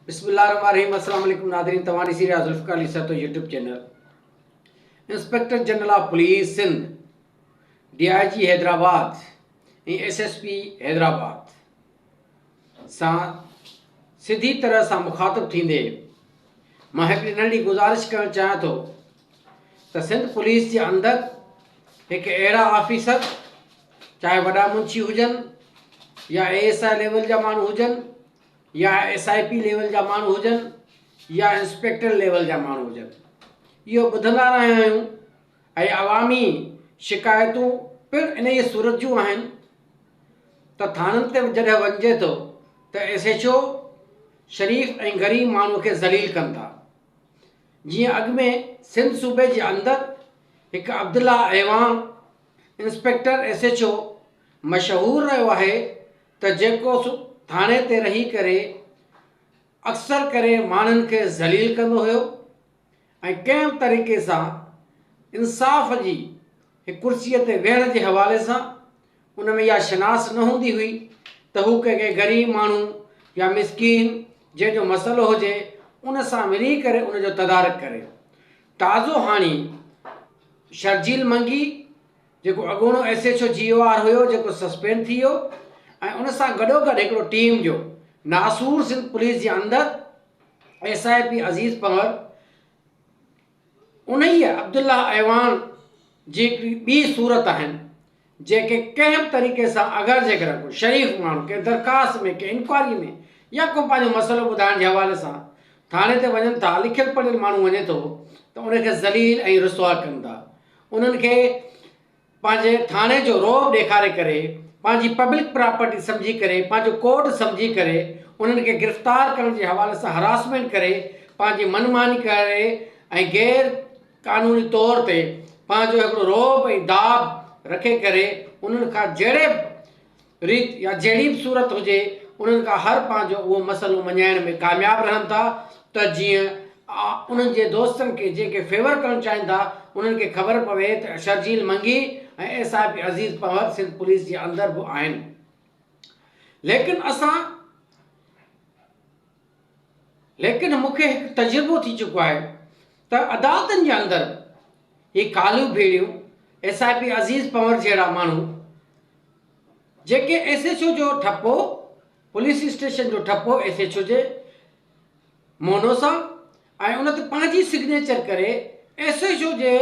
بسم الله الرحمن الرحيم السلام عليڪم ناظرين توهان ڏسي رهيا Zulfiqar Ali Sahto YouTube channel inspector general of police Sindh D I G Hyderabad ۽ S S P Hyderabad سان سڌي طرح سان مخاطب ٿيندي مان هڪڙي ننڍي گزارش ڪرڻ چاهيان ٿو ته سنڌ پوليس جي اندر هڪ اهڙا آفيسر چاهي وڏا منشي هجن يا اي ايس آء ليول جا ماڻهو هجن يا ايس آء پي ليول جا ماڻهو هجن يا انسپيڪٽر ليول جا ماڻهو هجن اهو ٻڌندا رهيا آهيون ۽ عوامي شڪايتون پڻ انهيء صورت جون آهن ته ٿاڻن تي جڏهن وڃجي ٿو ته ايس ايڇ او شريف ۽ غريب ماڻهو کي ذليل ڪن ٿا جيئن اڳ ۾ سنڌ صوبي جي اندر هڪ Abdullah Awan inspector S H O مشهور رهيو آهي ته جيڪو ٿاڻي تي رهي ڪري اڪثر ڪري ماڻهن کي ذليل ڪندو هيو ۽ ڪنهن به طريقي سان انصاف جي هڪ ڪرسي تي ويهڻ جي حوالي سان ان ۾ اها شناس نه هوندي هئي ته هو ڪنهن کي غريب ماڻهو يا مسڪين جنهن جو مسئلو هجي ان سان ملي ڪري ان جو تدارڪ ڪري تازو هاڻي شرجيل منگي جيڪو اڳوڻو S H O G O R هيو جيڪو سسپينڊ ٿي ويو ۽ ان سان گڏوگڏ هڪڙو ٽيم جو ناسور سنڌ پوليس جي اندر S I P Aziz Panhwar انهيء عبدالله اعوان جي هڪڙي ٻي صورت آهن جيڪي ڪنهن به طريقي سان اگر جيڪڏهن ڪو شريف ماڻهو ڪنهن درخواست ۾ ڪنهن انڪوائري ۾ يا ڪو پنهنجو مسئلو ٻڌائڻ جي حوالي سان ٿاڻي تي وڃن ٿا لکيل پڙهيل ماڻهو وڃي ٿو ته ان کي ذليل ۽ رسوا ڪن ٿا انهن کي پنهنجي ٿاڻي جو رعب ڏيکاري ڪري پنهنجي پبلڪ پراپرٽي سمجهي ڪري پنهنجو ڪورٽ سمجهي ڪري انهن کي گرفتار ڪرڻ جي حوالي سان هراسمينٽ ڪري پنهنجي من ماني ڪري ۽ غير قانوني طور تي پنهنجو هڪڙو رعب ۽ داڀ رکي ڪري انهن کان جهڙي ريت يا جهڙي به صورت هجي، انهن کان هر پنهنجو اهو مسئلو مڃائڻ ۾ ڪامياب رهن ٿا ته جيئن انهن جي دوستن کي جيڪي فيور ڪرڻ چاهين ٿا، انهن کي خبر پوي ته Sharjeel Mangi ۽ S I P Aziz Panhwar Sindh police جي اندر به آهن. ليڪن اسان. ليڪن مون کي هڪ تجربو ٿي چڪو آهي ته عدالتن جي اندر هي ڪاليون ڀيڙيون S I P Aziz Panhwar جهڙا ماڻهو جيڪي ايس ايڇ او جو ٺپو پوليس اسٽيشن جو ٺپو ايس ايڇ او جي مونو سان ۽ ان تي پنهنجي سگنيچر ڪري ايس ايڇ او جي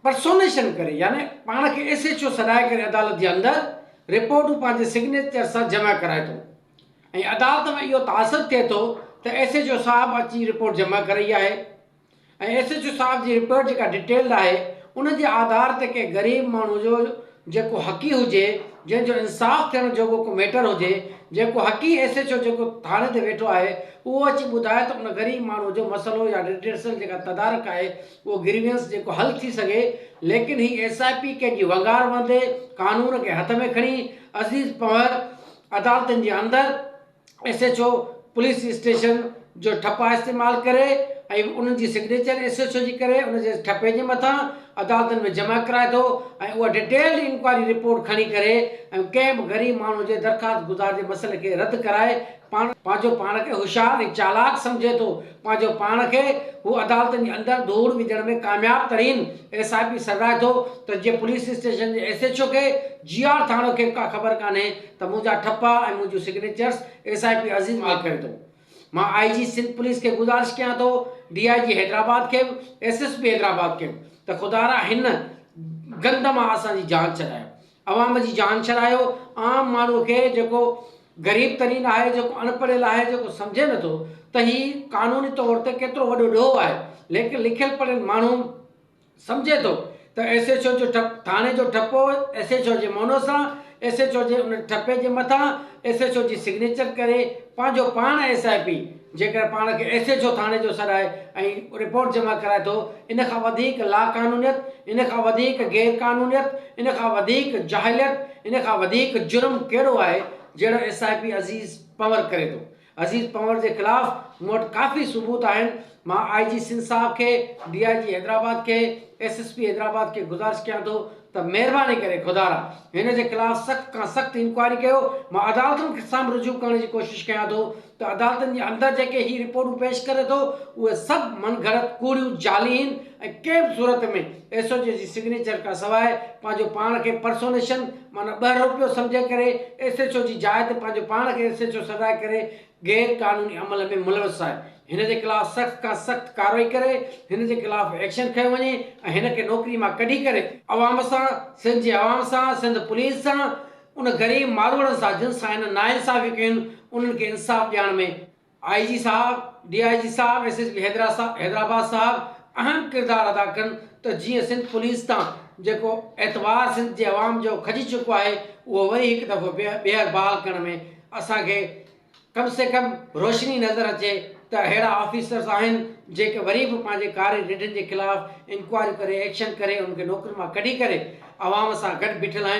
پرسونيشن ڪري يعني پاڻ کي ايس ايڇ او سڏائي ڪري عدالت جي اندر رپورٽون پنهنجي سگنيچر سان جمع ڪرائي ٿو ۽ عدالت ۾ اهو تاثر ٿئي ٿو ته ايس ايڇ او صاحب اچي رپورٽ جمع ڪرئي آهي ۽ ايس ايڇ او صاحب جي رپورٽ جيڪا ڊيٽيلڊ آهي ان جي آڌار تي ڪنهن غريب ماڻهو جو جيڪو حقي هجي جنهن جو انصاف ٿيڻ جوڳو ڪو ميٽر هجي جيڪو حقي ايس ايڇ او جيڪو ٿاڻي تي ويٺو آهي اهو اچي ٻڌائي ته ان غريب ماڻهو جو مسئلو يا ڊيٽيلسل جيڪا تدارڪ آهي اهو گريوينس جيڪو حل ٿي سگهي ليڪن هي ايس آء پي ڪنهن جي ونگار وهندي قانون کي هٿ ۾ کڻي عزيز پنهور عدالتن جي اندر S H O police station جو ٺپا استعمال ڪري ۽ انهن جي سگنيچر ايس ايڇ او جي ڪري ان جي ٺپي جي مٿان عدالتن ۾ جمع ڪرائي ٿو ۽ اها ڊيٽيلڊ انڪوائري رپورٽ کڻي ڪري ۽ ڪنهن به غريب ماڻهو جي درخواست گذار جي مسئلي کي رد ڪرائي پاڻ پنهنجو پاڻ کي هوشيار ۽ چالاڪ سمجهي ٿو پنهنجو پاڻ کي هو عدالتن جي اندر ڌوڙ وجهڻ ۾ ڪامياب ترين ايس آء پي سڏرائي ٿو ته جي پوليس اسٽيشن جي ايس ايڇ او کي جي آر ٿاڻو کي به ڪا خبر ڪانهي ته منهنجا ٺپا ۽ منهنجون سگنيچرس ايس آء پي عظيم آء ڪري ٿو مان آء جي سنڌ پوليس کي گذارش ڪيان ٿو ڊي آء جي حيدرآباد کي به ايس ايس پي حيدرآباد کي به ته خدارا هن گند مان اسان جي جان ڇڏايو عوام جي جان ڇڏايو، عام ماڻهو کي جيڪو غريب ترين آهي، جيڪو اڻ پڙهيل آهي، جيڪو سمجهي نه ٿو ته هي قانوني طور تي ڪيترو وڏو ڏوهه آهي، ليڪن لکيل پڙهيل ماڻهو سمجهي ٿو ته ايس ايڇ او جو ٺپ، ٿاڻي جو ٺپو ايس ايڇ او جي مونو سان، ايس ايڇ او جي ان ٺپي جي مٿان ايس ايڇ او جي سگنيچر ڪري پنهنجو پاڻ ايس آء پي، جيڪڏهن پاڻ کي ايس ايڇ او ٿاڻي جو سڏائي ۽ رپورٽ جمع ڪرائي ٿو، ان کان وڌيڪ لاقانونيت، ان کان وڌيڪ غير قانونيت، ان کان وڌيڪ جاهليت، ان کان وڌيڪ جرم ڪهڙو آهي، جهڙو S I P Aziz Panhwar ڪري ٿو. عزيز پنور جي خلاف مون وٽ ڪافي ثبوت آهن، مان آء جي سنڌ صاحب کي، ڊي آء جي حيدرآباد کي، ايس ايس پي حيدرآباد کي گذارش ڪيان ٿو ته مهرباني ڪري خدارا هن جي خلاف سخت کان سخت انڪوائري ڪيو، مان عدالتن سان به رجوع ڪرڻ جي ڪوشش ڪيان ٿو ته عدالتن جي اندر جيڪي هي رپورٽون پيش ڪري ٿو اهي سڀ من گھڙت، ڪوڙيون، جعلي هين ۽ ڪنهن به صورت ۾ ايس او جي جي سگنيچر کان سواء پنهنجو پاڻ کي پرسونيشن معنيٰ ٻهروپيو سمجهي ڪري ايس ايڇ او جي جاء تي پنهنجو پاڻ کي ايس ايڇ او سڏرائي ڪري غير قانوني عمل ۾ ملوث آهي هن جي خلاف سخت کان سخت ڪارروائي ڪري هن جي خلاف ايڪشن کنيو وڃي ۽ هن کي نوڪري مان ڪڍي ڪري عوام سان، سنڌ جي عوام سان، سنڌ پوليس سان، ان غريب ماروئڙن سان جن سان هن ناانصافيون ڪيون انهن کي انصاف ڏيارڻ ۾ آء جي صاحب، ڊي آء جي صاحب، ايس ايس پي حيدرآباد صاحب اهم ڪردار ادا ڪن ته جيئن سنڌ پوليس تان جيڪو اعتبار سنڌ جي عوام جو کڄي چڪو آهي اهو وري هڪ دفعو ٻيهر بحال ڪرڻ ۾ اسان کي ڪم سي ڪم روشني نظر اچي ته اهڙا آفيسرز آهن جيڪي وري به پنهنجي ڪاري رڍن جي خلاف انڪوائريون ڪري ايڪشن ڪري انهن کي نوڪرين مان ڪڍي ڪري عوام سان گڏ بيٺل آهن.